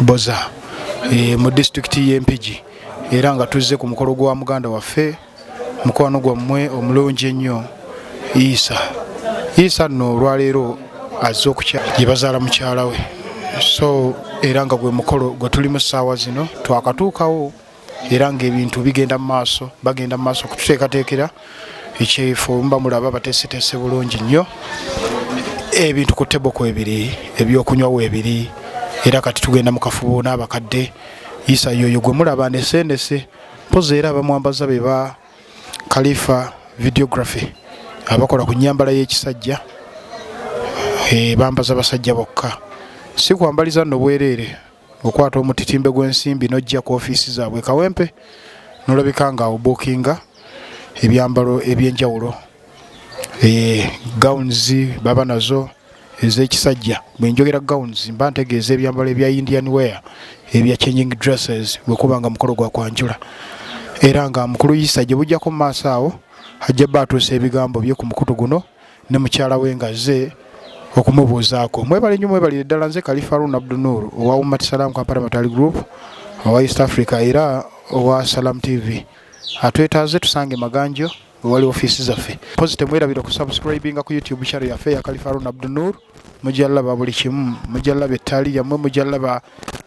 boza e, mu disitulikiti y'empigi era nga tuzze ku mukolo gwa muganda waffe mukwano gwammwe omulungi ennyo isa isa nno olwaleero azze okukya gye bazaala mukyala we so era nga gwe mukolo gwe tuli mu ssaawa zino twakatuukawo era ng'ebintu bigenda mu maaso bagenda mu maaso okututeekateekera ekyefo mba mulaba bateeseteese bulungi nnyo ebintu ku tebo kwebiri ebyokunywa weebiri era kati tugenda mu kafubo n'abakadde isa yoyo gwe mulaba neseendese mpozi era abamwambaza be ba kalifa videography abakola ku nyambala y'ekisajja eh, bambaza basajja bokka si kwambaliza nno bwereere okwata omutitimbe gw'ensimbi n'ojja ku ofiisi zaabwe kawempe n'olabika nga obuukinga ebyambalo eby'enjawulo eh, gowns baba nazo ez'ekisajja bwe njogera gowns mba ntegeeza ebyambalo ebya indian wear ebya changing dresses bwe kuba nga mukolo gwa kwanjula era nga mukulu yisa gye bujjako mu maaso awo ajja bba atuusa ebigambo bye ku mukutu guno ne mukyala we ng'azze okumubuuzaako mwebale nnyo mwebalire ddala nze kalifaruun abdunur owa ummat salam kampala matali group owa east africa era owa salam tv atwetaaze tusange maganjo ewali ofiisi zaffe mpozi temwerabira okusubscribinga ku youtube channel yaffe ya kalifaruun abdunur mujja laba buli kimu mujja laba ettaali yammwe mujja laba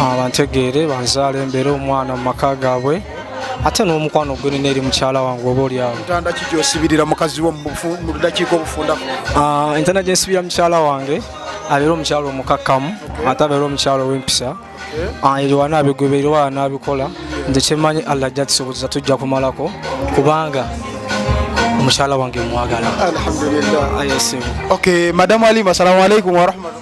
Ah, bantegeere banzaala embeere omwana mu maka gaabwe ate n'omukwano gwe nina eri mukyala wange oba olyawo ntanda ki gyosibirira mukazi wo mu bufu- mu ddakiika obufundako Ah, entana gye nsibira mukyala wange abeera omukyala omukakkamu ate abeera omukyala ow'empisa Ah, ebyo wana abigoberera oba anaabikola nze kyemanyi allah ajja tusobozesa tujja kumalako kubanga omukyala wange mwagala alhamdulillah ayesimu okay madamu alima salamu alaikum warahmatu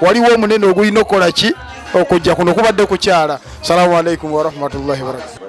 waliwo omunene ogulina okukola ki okujja kuno kubadde kukyala salamu alaikum warahmatullahi wabarakatu